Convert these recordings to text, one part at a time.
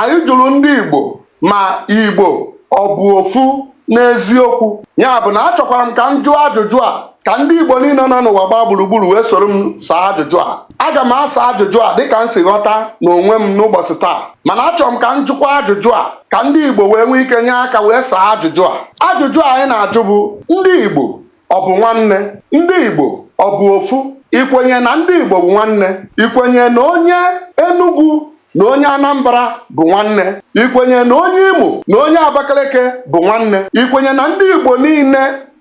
Anyị jụrụ ndị Igbo ma Igbo ọ bụ ofu n'eziokwu. Ya bụ na achọkwara m ka m jụọ ajụjụ a ka ndị Igbo niile nọ n'ụwa gbaa gburugburu wee soro m saa ajụjụ a. Aga m asa ajụjụ a dịka m si ghọta n'onwe m n'ụbọchị taa mana achọrọ m ka m jụkwa ajụjụ a ka ndị Igbo wee nwee ike nye aka wee saa ajụjụ a. Ajụjụ a anyị na-ajụ bụ ndị Igbo ọ bụ nwanne ndị Igbo ọ bụ ofu ikwenye na ndị Igbo bụ nwanne ikwenye na onye Enugu na onye Anambra bụ nwanne ikwenye na onye Imo na onye Abakaliki bụ nwanne ikwenye na ndị Igbo niile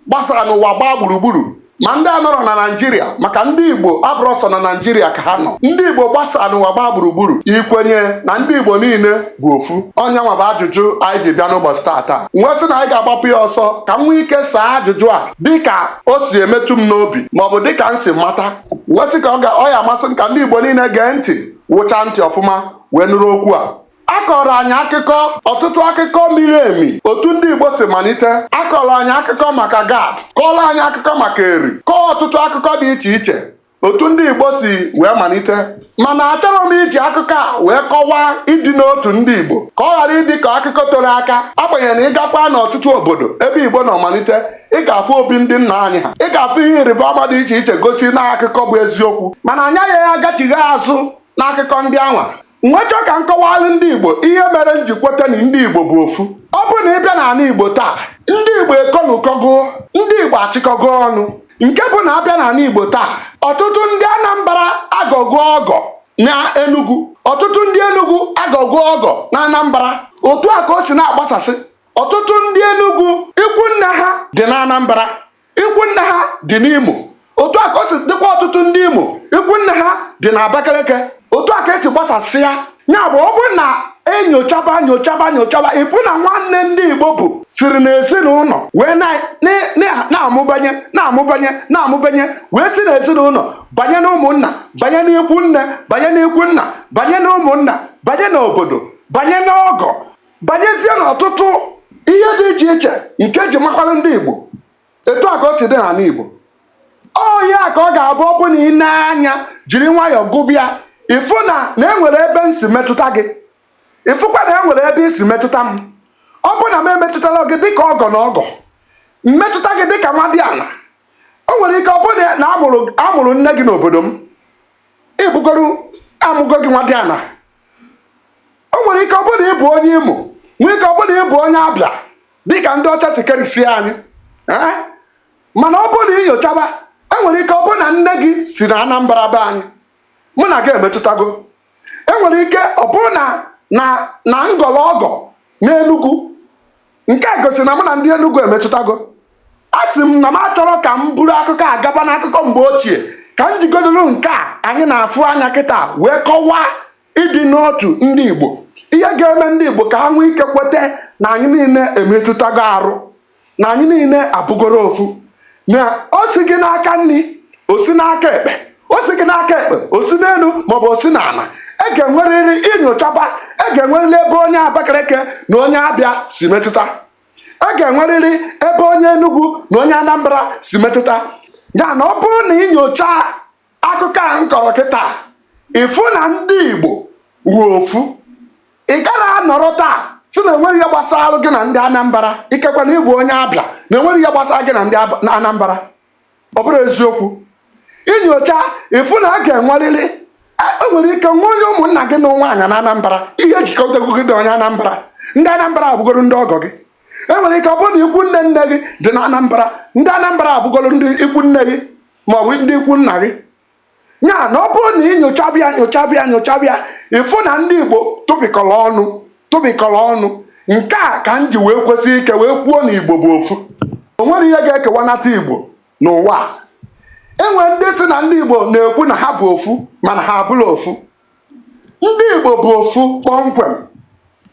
gbasara n'ụwa gbaa gburugburu ma ndị a nọrọ na naijiria maka ndị igbo abụrọ sọ na naijiria ka ha nọ ndị igbo gbasara n'ụwa gbaa gburugburu ikwenye na ndị igbo niile bụ ofu ọ nya nwa bụ ajụjụ anyị ji bịa n'ụbọchị taata m wee sị na anyị ga-agbapụ ya ọsọ ka m nwee ike saa ajụjụ a dịka o si emetụ m n'obi maọbụ dịka m si mata m wee sị ka ọ ya-amasị m ka ndị Igbo niile gee ntị wụcha ntị ọfụma wee nụrụ okwu a a kọrọ anyị akụkọ ọtụtụ akụkọ miri emi otu ndị Igbo si malite a kọrọ anyị akụkọ maka gad kọrọ anyị akụkọ maka eri kọọ ọtụtụ akụkọ dị iche iche otu ndị Igbo si wee malite mana achọrọ m iji akụkọ a wee kọwaa ịdị n'otu ndị Igbo ka ọ ghara ịdị ka akụkọ toro aka agbanyeghị na ị gakwa n'ọtụtụ obodo ebe Igbo nọ malite ị ga-afụ obi ndị nna anyị ha ị ga-afụ ihe ịrịba ama dị iche iche gosi na akụkọ bụ eziokwu mana anyị agaghị agachigha azụ n'akụkọ ndị anwa m wee chọọ ka m kọwaalụ ndị Igbo ihe mere m ji kweta na ndị Igbo bụ ofu ọ bụ na ị bịa n'anị Igbo taa ndị Igbo ekọnụkọgo ndị Igbo achịkọgo ọnụ nke bụ na a bịa n'anị Igbo taa ọtụtụ ndị Anambra agọgo ọgọ na Enugu ọtụtụ ndị Enugu agọgo ọgọ na Anambra otu a ka o si na-agbasasị ọtụtụ ndị Enugu ikwu nne ha dị na Anambra ikwu nne ha dị n'Imo otu a ka o si dịkwa ọtụtụ ndị Imo ikwu nne ha dị na Abakaliki otu a ka e si gbasasị ya ya bụ ọ bụrụ na e nyochaba nyochaba nyochaba ị fụ na nwanne ndị Igbo bụ siri n'ezinụlọ wee na-amụbanye na-amụbanye na-amụbanye wee si n'ezinụlọ banye n'ụmụnna banye n'ikwu nne banye n'ikwu nna banye n'ụmụnna banye n'obodo banye n'ọgọ banyezie n'ọtụtụ ihe dị iche iche nke ji makwara ndị Igbo etu a ka o si dị n'anị Igbo ọ ya ka ọ ga-abụ ọ bụ na i nee anya jiri nwayọọ gụba ya ị fụ na e nwere ebe m si metụta gị ị fụkwa na e nwere ebe i si metụta m ọ bụ na m emetụtarọ gị dịka ọgọ na ọgọ m metụta gị dịka nwadiana o nwere ike ọ bụrụ na a mụrụ nne gị n'obodo m ị bụgoro a mụgo gị nwadiana o nwere ike ọ bụrụ na ị bụ onye imo nwee ike ọ bụrụ na ị bụ onye abịa dịka ndị ọcha si kerisie anyị ee mana ọ bụrụ na i nyochaba enwere ike ọ bụrụ na nne gị si na anambra be anyị mụ na gị emetụtago enwere ike ọ bụrụ na na na m gọrọ ọgọ n'enugwu nke a gosi na mụ na ndị Enugu emetụtago asị m na m achọrọ ka m buru akụkọ a gaba n'akụkọ mgbe ochie ka m jigodoro nke a anyị na-afụ anya kịta wee kọwaa ịdị n'otu ndị Igbo ihe ga-eme ndị Igbo ka ha nwee ike kweta na anyị niile emetụtago arụ na anyị niile abụgoro ofu na o sighị n'aka nri o si n'aka ekpe o sighị n'aka ekpe o si n'elu maọbụ o si n'ala e ga-enwerịrị i nyochaba e ga-enwerịrị ebe onye abakaleke na onye abịa si metụta e ga-enwerịrị ebe onye enugwu na onye anambra si metụta ya na ọ bụrụ na i nyocha akụkọ a m kọrọ kịta ị fụ na ndị igbo bụ ofu ị gara anọrọ taa sị na enweghị ihe gbasara gị na ndị anambra ikekwe na ị bụ onye abịa na enweghị ihe gbasara gị na ndị Ab- na anambra ọ bụrọ eziokwu i nyocha ị fụ na a ga-enwerịrị e- e nwere ike nwee onye ụmụnna gị nụrụ nwaanyị na anambra ihe jikọtago gị na onye anambra ndị anambra abụgoro ndị ọgọ gị e nwere ike ọ bụrụ na ikwu nne nne gị dị na anambra ndị anambra abụgolo ndị ikwu nne gị maọbụ ndị ikwu nna gị ya na ọ bụrụ na i nyochaba ya nyochaba ya nyochaba ya ị fụ na ndị igbo tụpịkọrọ ọnụ tụpịkọrọ ọnụ nke a ka m ji wee kwesi ike wee kwuo na igbo bụ ofu o nwerọ ihe ga-ekewanata igbo n'ụwa enwere ndị sị na ndị igbo na-ekwu na ha bụ ofu mana ha abụrọ ofu ndị Igbo bụ ofu kpọmkwem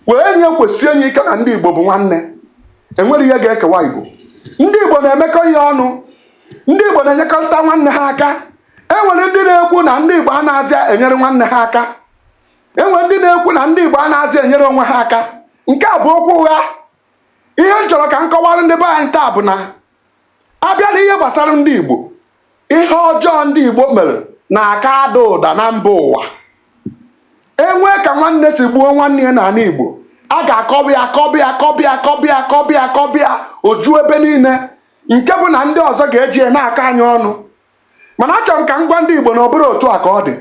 kwee na ya kwesie na ya ike na ndị Igbo bụ nwanne enwerọ ihe ga-ekewa Igbo ndị Igbo na-emekọ ihe ọnụ ndị Igbo na-enyekọrịta nwanne ha aka enwere ndị na-ekwu na ndị Igbo anaghịzi enyere nwanne ha aka enwere ndị na-ekwu na ndị Igbo anaghịzi enyere onwe ha aka nke a bụ okwu ụgha ihe m chọrọ ka m kọwara ndị be anyị taa bụ na abịa n'ihe gbasara ndị Igbo ihe ọjọọ ndị Igbo mere na-aka ada ụda na mba ụwa enwee ka nwanne si gbuo nwanne ya n'ala Igbo a ga-akọba ya akọba ya akọba ya akọba ya akọba ya akọba ya o ju ebe niile nke bụ na ndị ọzọ ga-eji ya na-akọ anyị ọnụ mana achọrọ m ka m gwa ndị Igbo na ọ bụrọ otu a ka ọ dị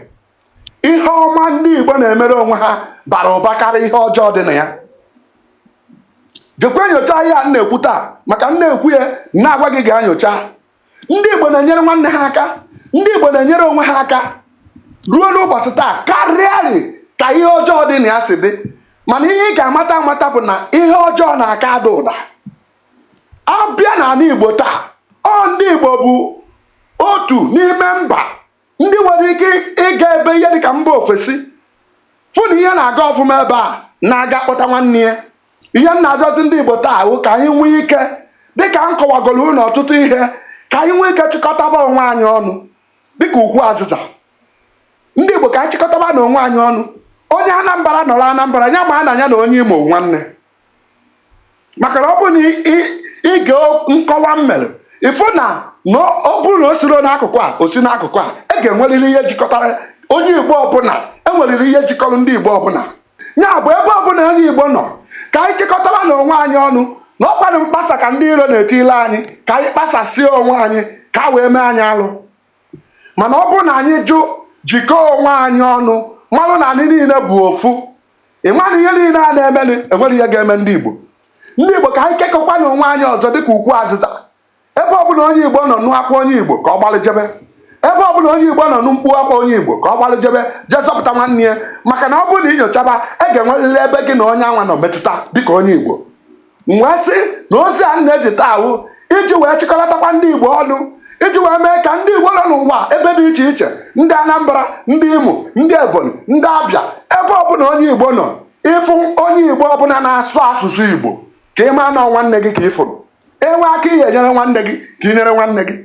ihe ọma ndị Igbo na-emere onwe ha bara ụba karịa ihe ọjọọ dị na ya jekwa nyocha ihe a m na-ekwu taa maka m na-ekwu ya m na-agwa gị gaa nyocha ndị Igbo na-enyere nwanne ha aka ndị Igbo na-enyere onwe ha aka ruo n'ụbọchị taa karịarị ka ihe ọjọọ dị na ya si dị mana ihe ị ga-amata amata bụ na ihe ọjọọ na-aka ada ụda abịa n'ala Igbo taa ọ ndị Igbo bụ otu n'ime mba ndị nwere ike ịga ebe ihe dịka mba ofesi fụ na ihe na-aga ọfụma ebe a na-aga kpọta nwanne ya ihe m na-ayọzi ndị igbo taa bụ ka anyị nwee ike dịka m kọwagoro unu ọtụtụ ihe ka anyị nwee ike chịkọtaba onwe anyị ọnụ dịka ukwu azịza ndị igbo ka anyị chịkọtaba na onwe anyị ọnụ onye anambra nọrọ anambra ya maa na ya na onye imo bụ nwanne maka na ọ bụrụ na ị- ị- i gee o- nkọwa m mere ị fụ na na ọ bụrụ na o siro n'akụkụ a o si n'akụkụ a e ga-enwerịrị ihe jikọtara onye igbo ọbụla enwerịrị ihe jikọrọ ndị igbo ọbụla ya bụ ebe ọbụla onye igbo nọ ka anyị chịkọtara na onwe anyị ọnụ na ọkwanụ mkpasa ka ndị iro na-etile anyị ka anyị kpasasịa onwe anyị ka a wee mee anyị alụ mana ọ bụrụ na anyị jụ jikọọ onwe anyị ọnụ malụ na anyị niile bụ ofu ị ma na ihe niile a na-emenụ enwero ihe ga-eme ndị Igbo ndị Igbo ka anyị kekọkwa na onwe anyị ọzọ dịka ukwu azịza ebe ọbụla onye Igbo nọ nụ akwa onye Igbo ka ọ gbalị jebe ebe ọbụla onye Igbo nọ nụ mkpu akwa onye Igbo ka ọ gbalị jebe jee zọpụta nwanne ya maka na ọ bụrụ na ị nyochaba e ga-enwerịrị ebe gị na onye anwa nọ metụta dịka onye Igbo wee sị na ozi a m na-ezi taa bụ iji wee chịkọlatakwa ndị Igbo ọnụ iji wee mee ka ndị Igbo nọ n'ụwa ebe dị iche iche ndị Anambra ndị Imo ndị Ebonyi ndị Abịa ebe ọbụla onye Igbo nọ ị fụ onye Igbo ọbụla na-asụ asụsụ Igbo ka ị maa na nwanne gị ka ị fụrụ e nwee aka ị ya-enyere nwanne gị ka ị nyere nwanne gị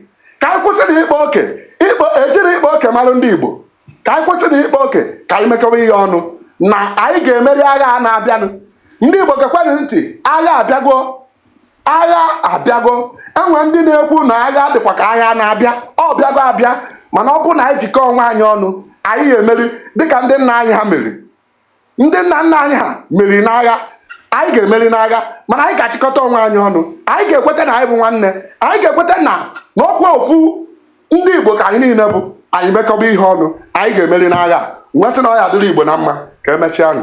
ka anyị kwụsị na ịkpa oke ịkpa ejiri ịkpa oke mara ndị Igbo ka anyị kwụsị na ịkpa oke ka anyị mekọwa ihe ọnụ na anyị ga-emeri agha a na-abịanụ ndị Igbo gekwenụ ntị agha abịago agha abịago enwe ndị na-ekwu na agha dịkwa ka agha na-abịa ọ bịago abịa mana ọ bụ na anyị jikọọ onwe anyị ọnụ anyị ga-emeri dịka ndị nna anyị ha meriri ndị nna nna anyị ha meriri n'agha anyị ga-emeri n'agha mana anyị ga-achịkọta onwe anyị ọnụ anyị ga-ekweta na anyị bụ nwanne anyị ga-ekweta na na ọkwa ofu ndị igbo ka anyị niile bụ anyị mekọba ihe ọnụ anyị ga-emeri n'agha. M wee sị na ọ ya-adịrị igbo na mma ka emechaa nụ